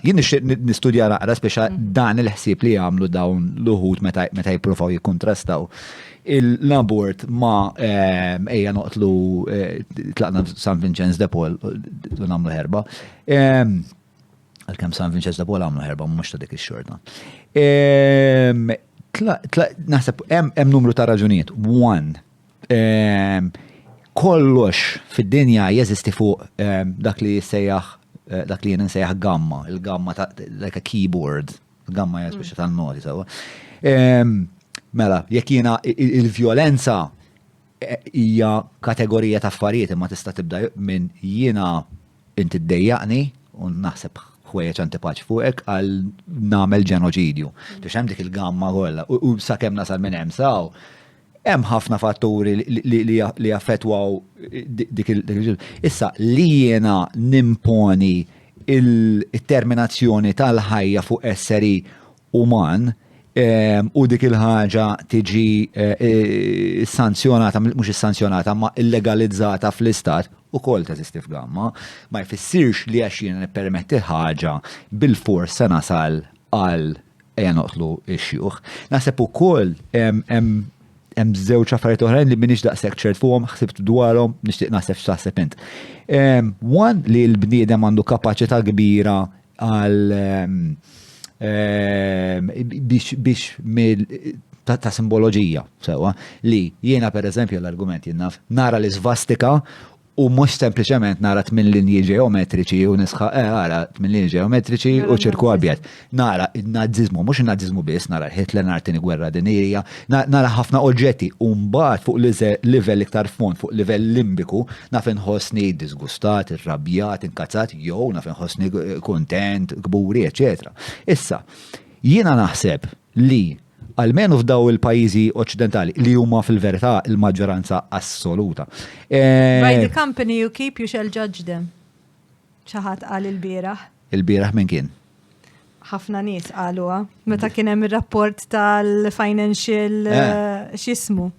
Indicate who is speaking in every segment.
Speaker 1: Jien nixtieq nistudja naqra speċa mm. dan il-ħsieb li jagħmlu dawn l-uħud meta jippruvaw jikkontrastaw l-abort ma ehm, ejja noqtlu eh, tlaqna San Vincenz de Paul u nagħmlu ħerba. Ehm, għalkemm San Vincenz de Paul għamlu ħerba mhux ta' dik ix-xorta. Ehm, naħseb hemm numru ta' raġunijiet. One, Kollox fid-dinja jeżisti fuq dak li jissejjaħ eh, dak li jien nsejjaħ gamma, il-gamma ta' like a keyboard, gamma hija speċi tan-noti sewwa. Mela, jekk jiena il-vjolenza eh, hija kategorija ta' affarijiet imma tista' tibda minn jiena inti ddejjaqni u naħseb ħwejjeġ antipaċ fuqek għal nagħmel ġenoċidju. Biex hemm dik il-gamma kollha u sakemm nasal minn hemm saw Hemm ħafna fatturi li jaffettwaw dik il-ġil. Issa, li jiena nimponi il-terminazzjoni tal-ħajja fuq esseri uman ehm, u dik il-ħaġa tiġi eh, sanzjonata, mhux is-sanzjonata, ma illegalizzata fl-istat, u kol ta' zistif gamma, ma jfissirx li għax jiena nippermetti ħaġa bil-fors se nasal għal Ejja noqtlu x-xjuħ. Naħseb ukoll hemm żewġ affarijiet oħrajn li minix daqshekk ċert fuqhom ħsibt dwarhom nixtieq naħseb x'taħseb int. Wan li l-bniedem għandu kapaċità kbira għal biex ta' simboloġija sewa li jiena pereżempju l-argument jinnaf nara l-isvastika u mhux sempliċement nara tmien linji ġeometriċi u nisħaq eh ara tmien linji ġeometriċi u ċirku abjad. Nara n-Naziżmu, mhux in-Naziżmu biss, nara Hitler, nara tieni gwerra dinija, nara ħafna oġġetti u mbagħad fuq livell iktar fond, fuq livell limbiku, naf inħossni disgustat, irrabjat, inkazzat jew naf inħossni kuntent, kburi, eċċetera. Issa, jiena naħseb li, almenu f'daw il-pajjiżi oċċidentali, li huma fil-verità il-maġġoranza assoluta. By the
Speaker 2: company you keep you shall judge them. Xi ħadd qal il-bieraħ. Il-bieraħ minn kien?
Speaker 1: ħafna
Speaker 2: nies qaluha meta kien hemm ir-rapport tal-financial eh. eh, x'ismu.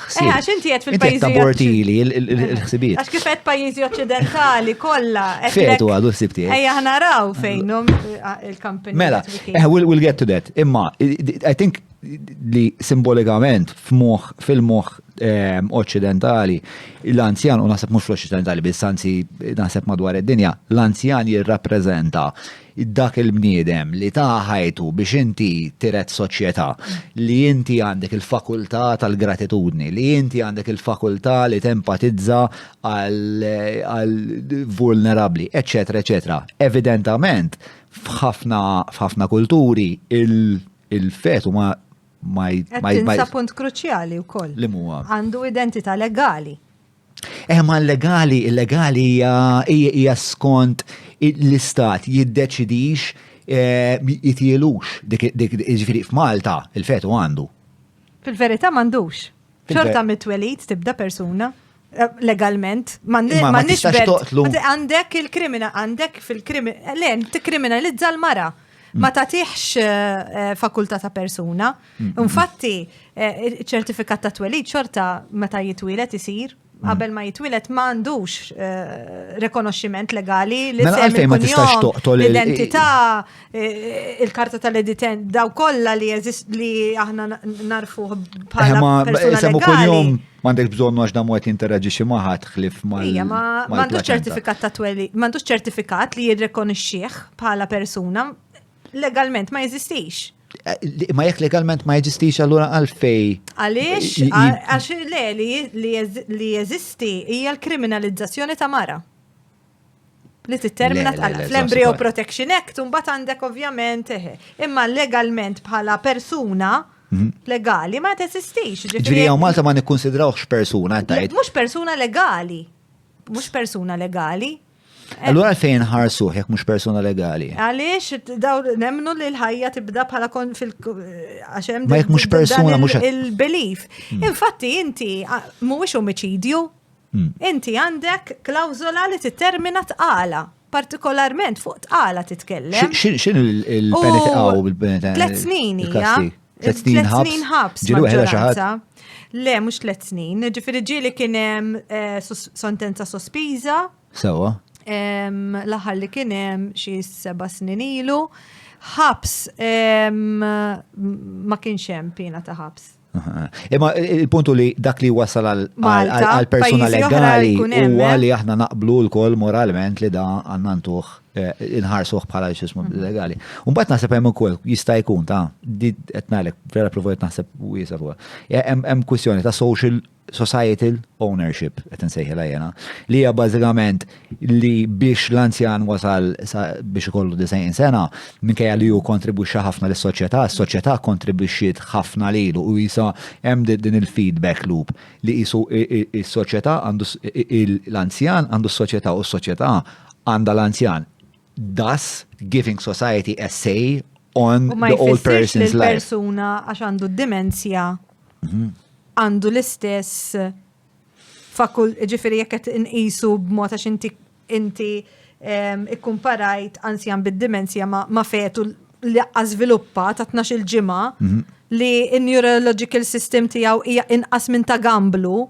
Speaker 1: ħsieb. Eh, għax inti qed fil-pajjiżi. Inti
Speaker 2: tabortili
Speaker 1: il-ħsibiet. Għax kif qed pajjiżi
Speaker 2: oċċidentali kollha. Fetu għadu ħsieb
Speaker 1: tiegħek. Ejja ħna raw
Speaker 2: fejnhom eh, il-kampanja. Mela,
Speaker 1: eh, we'll get to that. Imma, I think li simbolikament f'moħ, fil-moħ ehm, occidentali, l-anzjan, u naħseb mux l-occidentali, bis-sanzi naħseb madwar id-dinja, l-anzjan jirrapprezenta Dak il-bniedem li ta ħajtu biex inti tiret soċjetà, li inti għandek il-fakultà tal-gratitudni, li inti għandek il-fakultà li tempatizza għal vulnerabbli, eċċetera, eċċetera. Evidentament, f'ħafna kulturi il-fetu ma ma Qed
Speaker 2: tinsa punt kruċjali wkoll. Li huwa? Għandu
Speaker 1: identità
Speaker 2: legali. Eħma
Speaker 1: legali, illegali hija skont l-istat jiddeċidix eh, jitilux dik ġifieri f'Malta il-fetu għandu. Fil-verità
Speaker 2: m'għandux. Xorta mit-twelid tibda persuna eh, legalment ma nix toqtlu. Għandek il-krimina, għandek fil-krimina, eh, len, t-kriminalizza l-mara. Ma mm. tatiħx fakulta ta' persuna. Infatti, eh, ċertifikat ta' twelid xorta meta jitwilet isir qabel ma jitwilet ma għandux eh, rekonoxximent legali li mela għalfej ma tistax toqtol l-identità eh, il-karta tal-editen daw kollha li jeżist li aħna narfu bħala eh, persuna legali. M'għandek bżonn għax
Speaker 1: dam għet interagġi xi maħat ħlif ma. Ija, ma m'għandux ċertifikat
Speaker 2: ta' tweli, m'għandux ċertifikat li jirrekonixxih bħala persuna legalment ma jeżistix. Ma jekk
Speaker 1: legalment ma jeżistix allura għalfej. Għaliex,
Speaker 2: għax le li jeżisti hija l-kriminalizzazzjoni ta' mara. Li tittermina fl-Embryo Protection Act, un bat għandek ovvjament, eh, imma legalment bħala persuna Mhm. legali ma tesistix. Ġviri għaw Malta ma
Speaker 1: nikkonsidrawx persuna tajt. Mux persuna legali.
Speaker 2: Mux persuna legali. Allura
Speaker 1: fejn ħarsuh jekk mhux persuna legali. Għaliex daw
Speaker 2: nemnu li l-ħajja tibda bħala kon fil għax hemm jekk mhux persuna
Speaker 1: mhux
Speaker 2: il-belief.
Speaker 1: Hmm.
Speaker 2: Infatti
Speaker 1: inti mhuwiex omiċidju.
Speaker 2: Hmm. Inti għandek klawżola li tittermina tqala partikolarment fuq tqala titkellem. X'in
Speaker 1: il-penitqaw bil-penitqaw? Tlet snin hija.
Speaker 2: Tlet snin ħabs. Tlet
Speaker 1: snin ħabs. Ġilu ħela xaħat.
Speaker 2: Le, mux tlet snin. Ġifiri ġili kienem eh, sentenza sospiża. Sewa. Laħar li kienem xie seba snin ilu. Ħabs ma kienx hemm pina ta' ħabs. Imma
Speaker 1: il-puntu li dak li wasal għal persuna legali u għali aħna naqblu l-kol moralment li da għannantuħ Eh, inħarsuh bħala xismu mhm. legali. Umbat naħseb hemm ukoll jista' jkun ta' di qed ngħidlek vera provojt naħseb wiesa fuq. Eh, hemm kwistjoni ta' social societal ownership qed insejħilha jena li hija bażikament li biex l-anzjan wasal biex ikollu 90 sena minkejja li hu kontribwixxa ħafna lis-soċjetà, s-soċjetà kontribwixxiet ħafna lilu u jisa hemm din il-feedback loop li jisu is-soċjetà għandu l-anzjan għandu s-soċjetà u s-soċjetà għandha l-anzjan. Thus, giving society a say on the old person's life. Ma persuna għax għandu
Speaker 2: d-dimensja mhm. għandu l-istess fakul ġifiri jekk qed inqisu b'mod għax inti inti ikkumparajt anzjan bid-dimensja ma fetu li żviluppa ta' 12 ġimgħa mhm. li n-neurological system tiegħu hija inqas minn ta' gamblu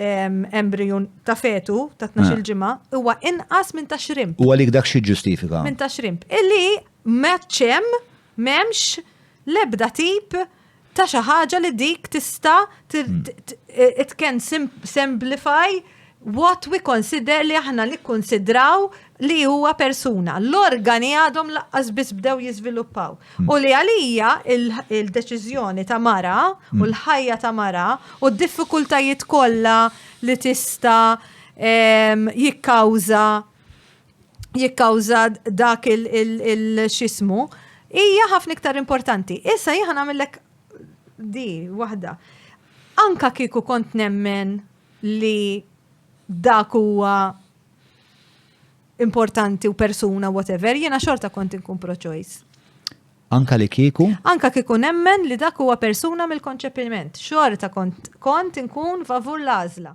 Speaker 2: embriju ta' fetu ta' 12 ġimgħa huwa inqas minn ta' xrimp. U għalik dak xi ġustifika?
Speaker 1: Minn ta' xrimp. Illi
Speaker 2: meċċem m'hemmx l-ebda tip ta' xi ħaġa li dik tista' it can simplify what we consider li aħna nikkonsidraw li huwa persuna, l-organi għadhom laqqas biss bdew jiżviluppaw. U li għalija il-deċiżjoni ta' mara u l-ħajja ta' mara u d-diffikultajiet kollha li tista' jikkawża jikkawża dak il-xismu hija ħafna iktar importanti. Issa jieħan għamillek di waħda. Anka kieku kont nemmen li dak huwa importanti u persuna whatever, jiena xorta kont inkun pro-choice. Anka
Speaker 1: li kieku? Anka kieku nemmen
Speaker 2: li dak huwa persuna mill-konċepiment. Xorta kont, kont inkun favur l-għażla.